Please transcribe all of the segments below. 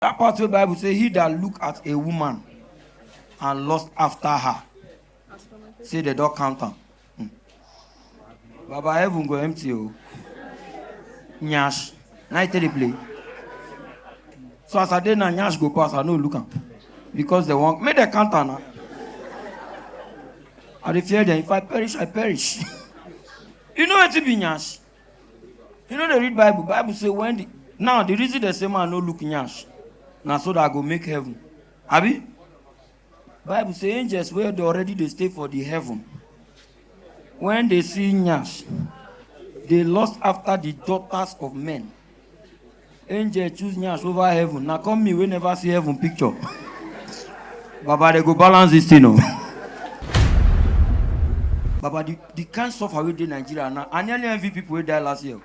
That part where Bible say he that look at a woman and lust after her. Say the dog count am. Hmm. Baba heaven go empty o. Nyash. Na I tell the play. So as I dey na nyash go pass, I no look am. Because they want make dem count am na. I dey fear them. If I perish, I perish. you know wetin be nyash? you no dey read bible bible say when the now the reason dem say man no look nyash na so that i go make heaven abi bible say angels wey dey already dey stay for the heaven when they see nyash they lust after the daughters of men angel choose nyash over heaven na come me wey never see heaven picture baba dey go balance this thing o baba the the kind suffer wey dey nigeria now i nearly envy people wey die last year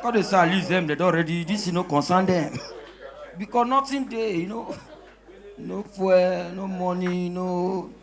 god dey say at least dem dey don ready this thing no concern dem because nothing dey you know no fuel no money no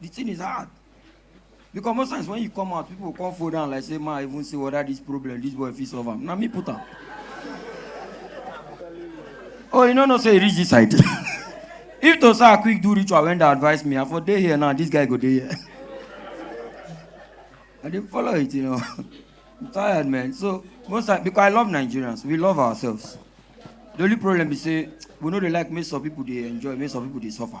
the thing is hard because most times when you come out people come fall down like say ma i even say whether this problem this boy fit solve am na me put am oh you no know say e reach this side if to say i quick do ritual when dey advise me i for dey here now this guy go dey here i dey follow it you know i'm tired man so most times because i love nigerians we love ourselves the only problem be say we no dey like make some people dey enjoy make some people dey suffer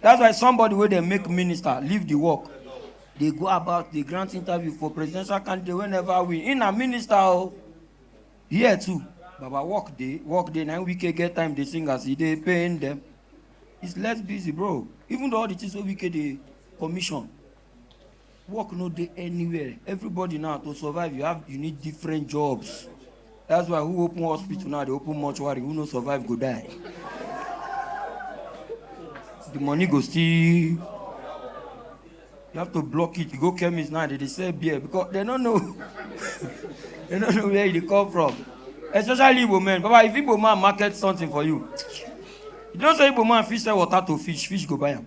That's why somebody wey dey make minister leave the work dey go about dey grant interview for presidential candidate wey never win. He na minister o. Here too, Baba work dey, work dey. Na him Wike get time dey sing as he dey pain them. He's less busy bro. Even though all the things wey Wike dey commission, work no dey anywhere everybody now to survive you have you need different jobs that's why who open hospital now dey open mortuary who no survive go die the money go still you have to block it you go chemist now they dey sell beer because they no know they no know where e dey come from especially igbo men baba if igbo man market something for you you know say igbo man fit sell water to fish fish go buy am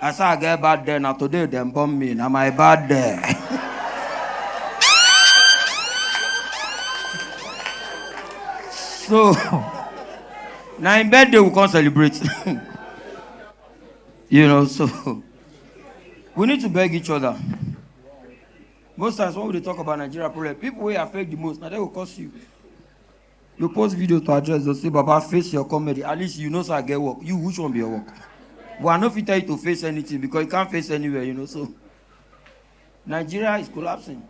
I say I get bad day, na today dem born me, na my bad day. so, na im birthday we come celebrate. you know, so we need to beg each other. Most times when we dey talk about Nigeria problem, people wey affect the most, na dem go cause you. you post video to address those say baba face your comedy at least you know say i get work you which one be your work but i no fit tell you to face anything because you can't face anywhere you know so nigeria is collapsing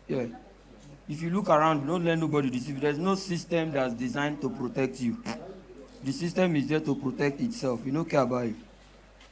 yeah if you look around don't let nobody deceive you there's no system that's designed to protect you the system is there to protect itself you no care about it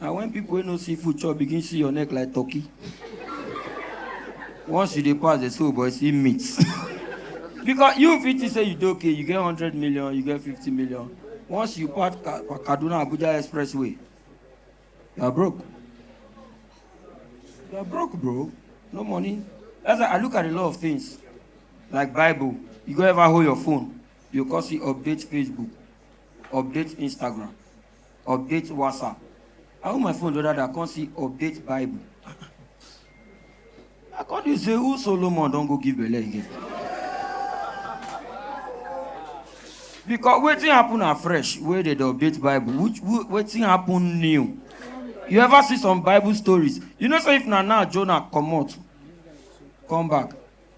na when people wey no see food chop begin see your neck like turkey once you dey pass dey say oh boy see meat because you fit think say you dey okay you get hundred million you get fifty million once you pass Ka- kaduna abuja expressway you are broke you are broke bro no money that's why i look at a lot of things like bible you go ever hold your phone you go come see update facebook update instagram update whatsapp i hold my phone the other day i come see update bible i come dey say who solomon don go give belle again because wetin happen na fresh wey dey dey update bible which wh- wetin happen new you ever see some bible stories you know say if na now jonah comot come back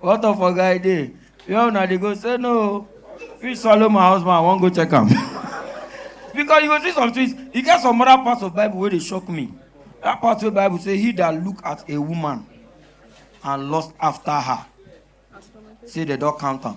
What of oga I dey? Where una dey go? Say no. Fish swallow my husband, I wan go check am. Because you go see some things, e get some other parts of Bible wey dey shock me. That part wey Bible say he that look at a woman and lust after her, say they don count am.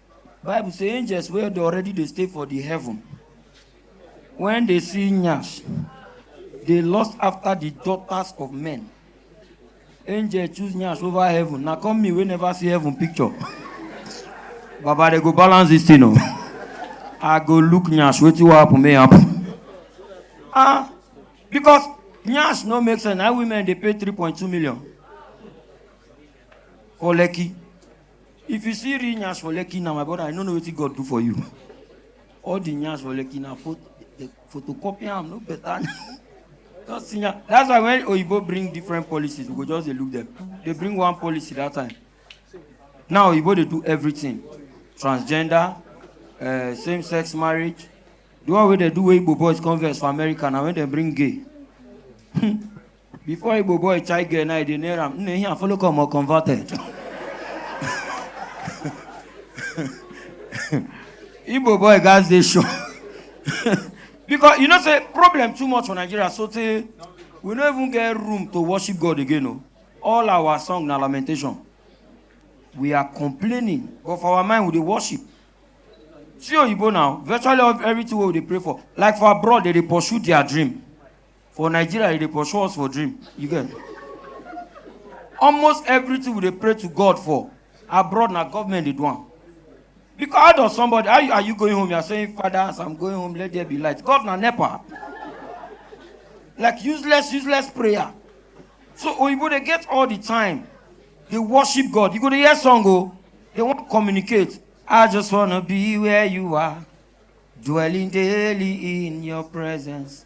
bible say angels wey dey already dey stay for the heaven when they see nyash they lust after the daughters of men angel choose nyash over heaven na come me wey never see heaven picture baba they go balance this thing o i go look nyash wetin wan happen may happen ah because nyash no make sense na women dey pay three point two million for lekki If you see real nyash for Lekki now, my brother, I no know wetin God do for you. All the nyash for Lekki na pho- the photocopy am no better. Just see nya- That's why when Oyibo bring different policies, we go just dey look them. They bring one policy that time. Now Oyibo dey do everything. Transgender, uh, same-sex marriage. The one wey dey do wey Igbo boys converse for America na when dem bring gay. Before Igbo boy chai girl now, they near him. Nne here follow come or converted. Igbo boy guys they show. because you know say problem too much for Nigeria so tey we no even get room to worship God again o. All our song na lamentation. We are complaining but for our mind we dey worship. See oyibo now virtually all- everything wey we dey pray for like for abroad they dey pursue their dream. For Nigeria, you dey pursue us for dream. You get? Almost everything we dey pray to God for abroad na government dey do am. Because how does somebody how you, are you going home? You are saying, Father, as I'm going home, let there be light. God na nepa. Like useless, useless prayer. So Oyibo dey get all the time. They worship God. You go dey hear song o. They wan communicate. I just wanna be where you are, dwelling daily in your presence.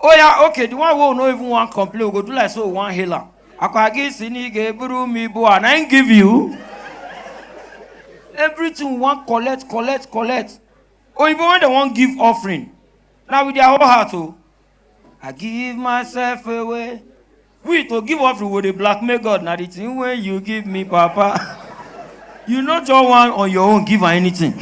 Oh yeah, okay, the one who no even want complain, we go do like so we want healer. Akwagi sini ge buru mi bo and I ain't give you. Everything we want collect, collect, collect. Oh, even when they want give offering, now with their whole heart, oh, I give myself away. we to give offering we dey blackmail god na the thing wey you give me papa you no just wan on your own give am anything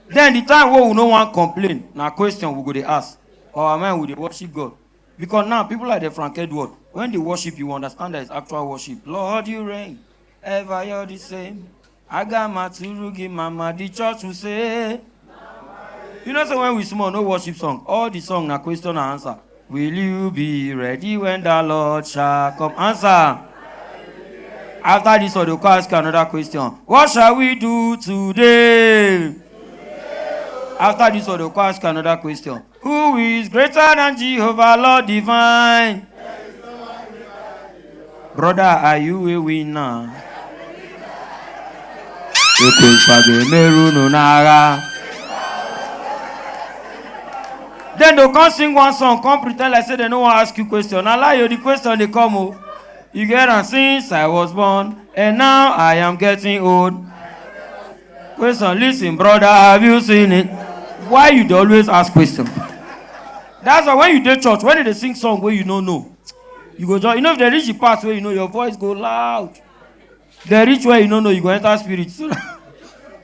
then the time wey we no wan complain na question we go dey ask for our mind we dey worship god because now people like the frank edward when they worship you understand that it's actual worship lord you reign ever you're the same Aga maturu gi mama the church will say. You know say when we small no worship song all the song na question and answer. Will you be ready when the Lord shall come? Answer. After this one, they go come ask you another question. What shall we do today? After this one, they go come ask you another question. Who is greater than Jehovah, Lord divine? Brother, are you a winner? Ekwenfa ga-emeru unu n'agha. Then they come sing one song, come pretend like say they no wan ask you question. Na lie o, the question dey come o. You get am since I was born and now I am getting old. Question, listen, brother, have you seen it? Why you dey always ask question? That's why when you dey church, when they dey sing song wey you no know, you go just, you know if they reach the part where you know your voice go loud. They reach where you no know, you go enter spirit. So that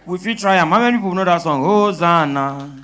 we fit try am. How many people know that song? Hosanna.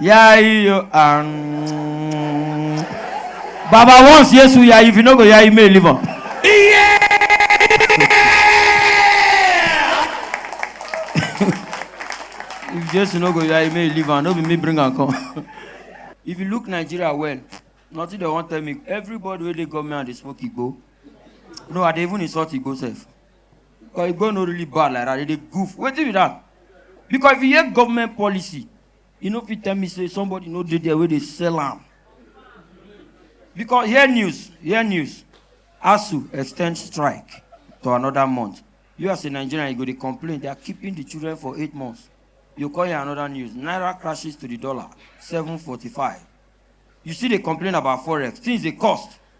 Yeah, you um, Baba once yes we are if you no go yeah you may live up. Yeah. if Jesus no go yeah you may live on. No be me bring and come. if you look Nigeria well, nothing they want tell me. Everybody where they government and they smoke go. No, I dey even insult go self. But e go no really bad like that. They dey goof. Wetin be that? Because if you hear government policy, you no fit tell me say somebody no dey there wey dey sell am. Because hear news, hear news. ASU extend strike to another month. You as a Nigerian, you go dey complain. They are keeping the children for eight months. You call here another news. Naira crashes to the dollar, 745. You still dey complain about forex. Things dey cost.